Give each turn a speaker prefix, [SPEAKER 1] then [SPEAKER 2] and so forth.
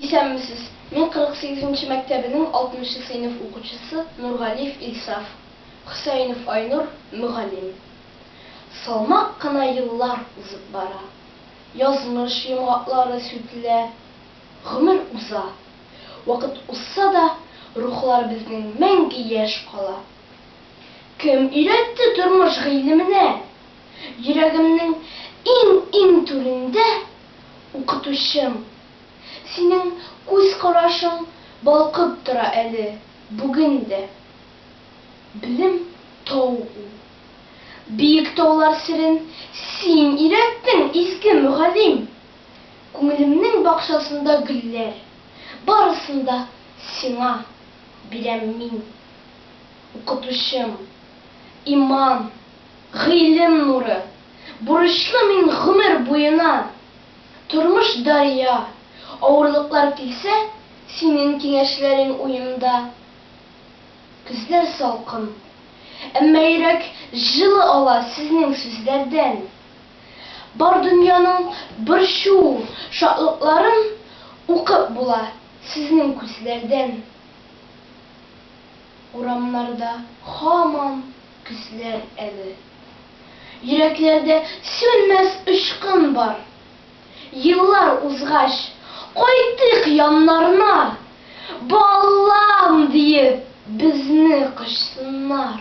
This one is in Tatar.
[SPEAKER 1] Исәнмесез! Мин 48 нче мәктәбенең 60 нчы сыйныф укучысы Нургалиев Илсаф, Хөсәенов Айнур, мөгаллим. Салмак кына еллар узып бара. Язмыш йомгаклары сүтелә. Гомер уза. Вакыт узса да, рухлар безнең мәңге яшь кала. Кем өйрәтте тормыш гыйлеменә? Йөрәгемнең иң-иң түрендә. Укытучым, синең күз карашың балкып тора әле бүген дә. Белем, тау ул. Биек таулар серен син өйрәттең, изге мөгаллим! Күңелемнең бакчасында гөлләр, барысын да сиңа бирәм мин. Укытучым, иман! Гыйлем нуры, бурычлы мин гомер буена, Тормыш дария, авырлыклар килсә, Синең киңәшләрең уемда. Көзләр салкын, әмма йөрәк җылы ала Сезнең сүзләрдән. Бар дөньяның борчу, шатлыкларын Укып була Сезнең күзләрдән. Урамнарда һаман көзләр әле. Йөрәкләрдә сүнмәс очкын бар. Еллар узгач, кайтыйк яннарына, Балам! диеп, безне кочсыннар.